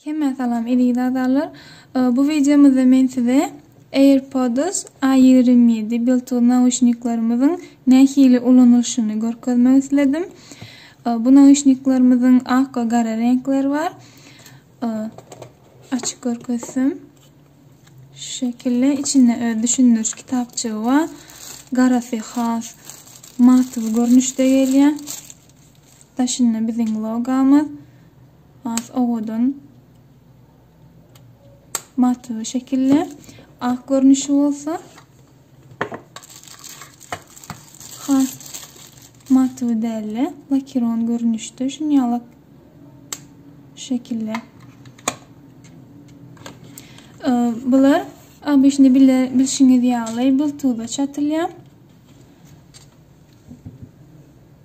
Hemmä salam eziz agzalar bu wideomyzda men size Airpods a ýigrimi ýedi Bluetooth nauşniklerimiziň nähili ulanylyşyny görkezmek isledim bu nauşniklerimiziň ak we gara reňkleri bar açyp görkezsem şu şekilde içinde öz düşündiriş kitapçygy bar garasy has matwy görnüşde gelýär daşynda biziň logamyz Has owadan maty şekilli. Ak görnüşi bolsa has maty dälli. Lakiron görnüşde şun ýaly şekilli. Ee, bular abişini bilşiňiz ýaly bultuda çatylýar.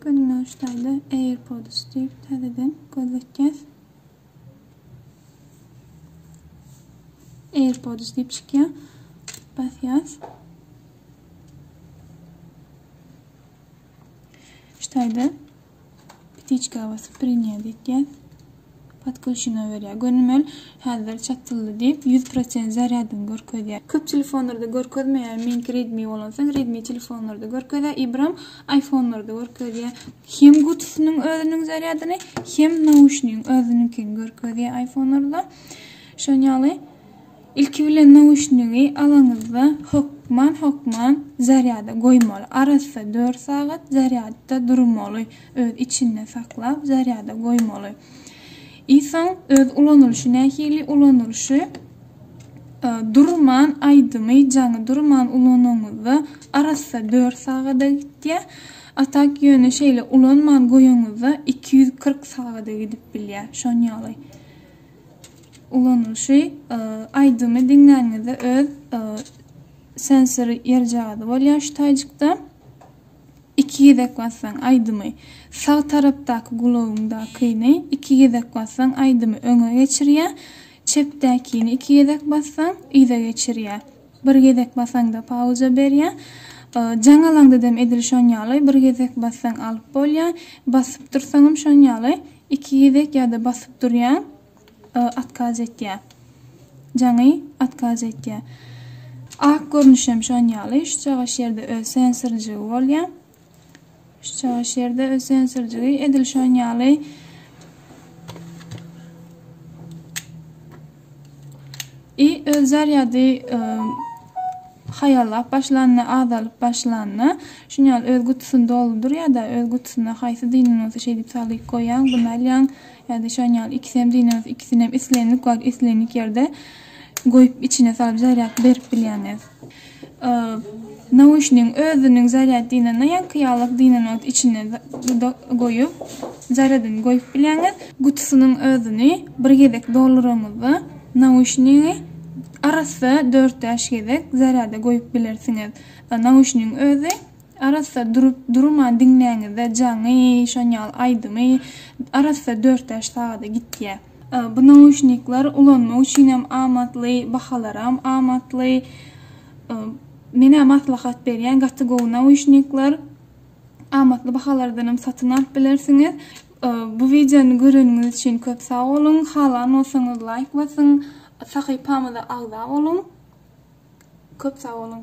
Gündoş daýza AirPods diýip täzeden göz etýäs. AirPods diýip çykýar. Basýas. Şu taýda Ptiçka wospreniýa diýýäs. Podkluşina berýär. Gönümel häzir çatyldy diýip, ýüz prosent zarýadyny görkezýär. Köp telefonlarda görkezmeýär. Meňki Redmi bolan soň Redmi telefonlarda görkezýär. Ibram iPhone-larda görkezýär. Hem gutusynyň özüniň zarýadyny, hem nauşnigiň özüniňkini görkezýär iPhone-larda. Şoň ýaly. Ilki bilen nauşnigi alaňyzda hökman hökman zarýada goýmaly. Arassa dört sagat zarýadda durmaly, öz içinde saklap zarýada goýmaly. I soň öz ulanylyşy nähili ulanylyşy durman aýdymy jaňy durman ulanaňyzda arassa dört sagada gitýä, a tak ýöne şeýle ulanman goýaňyzda iki ýüz kyrk sagada gidip bilýä şon ýaly. ulanylyşy aýdymy diňlänizde öz sensor ýer jady bolýar şu taýjykda iki gezek bassaň aýdymy sag tarapdaky gulagyňdakyny iki gezek bassaň aýdymy öňe geçirýär çepdäkini iki gezek bassaň yza geçirýär Bir gezek basaňda pauza berýä. Jaň alaňdadam edil şon ýaly, bir gezek bassaň alyp bolýa. Basyp dursaňam şon ýaly, iki gezek ýa-da basyp durýaň, otkaz etýä. Jaňy otkaz etýä. Ak görnüşem şon ýaly, şu çagaş ýerde öz sensorjygy bolýa. Şu çaýyş ýerde ösen sürjügi edil şon ýaly i öz zarýady haýallap başlanda, azalyp başlanda, şun ýaly öz gutusyny doldur ýa-da öz gutusyna haýsy dynany bolsa şeý diýip salyk goýýaň, bunu alýaň ýa-da şon ýaly ikisi hem dynany bolsa ikisini hem islendik wagt, islendik ýerde goýup içine salyp zarýad berip bilýäňiz. Nauşnigiň özüniň zarýad dynanyna ýaňky ýalak dynanok içine dudak goýup, zarýadyny goýup bilýäňiz. Gutusynyň özüni bir gezek dolduraňyzda, nauşnigi arassa dört-bäş gezek zarýada goýup bilersiňiz. Nauşnigiň özi arassa durup, durman diňläňizde jaňy, şon ýaly aýdymy arassa dört-bäş sagada gitýär. Bu nauşnikler ulanmak üçin hem amatly, bahalaram amatly. Menä maslahat berýän gaty gowy nauşnikler. Amatly bahalardan hem satyn alyp bilersiňiz. Bu videony göreniňiz üçin köp sag boluň. Halan bolsaňyz laýk basyň. Sahypamyza agza boluň. Köp sag boluň.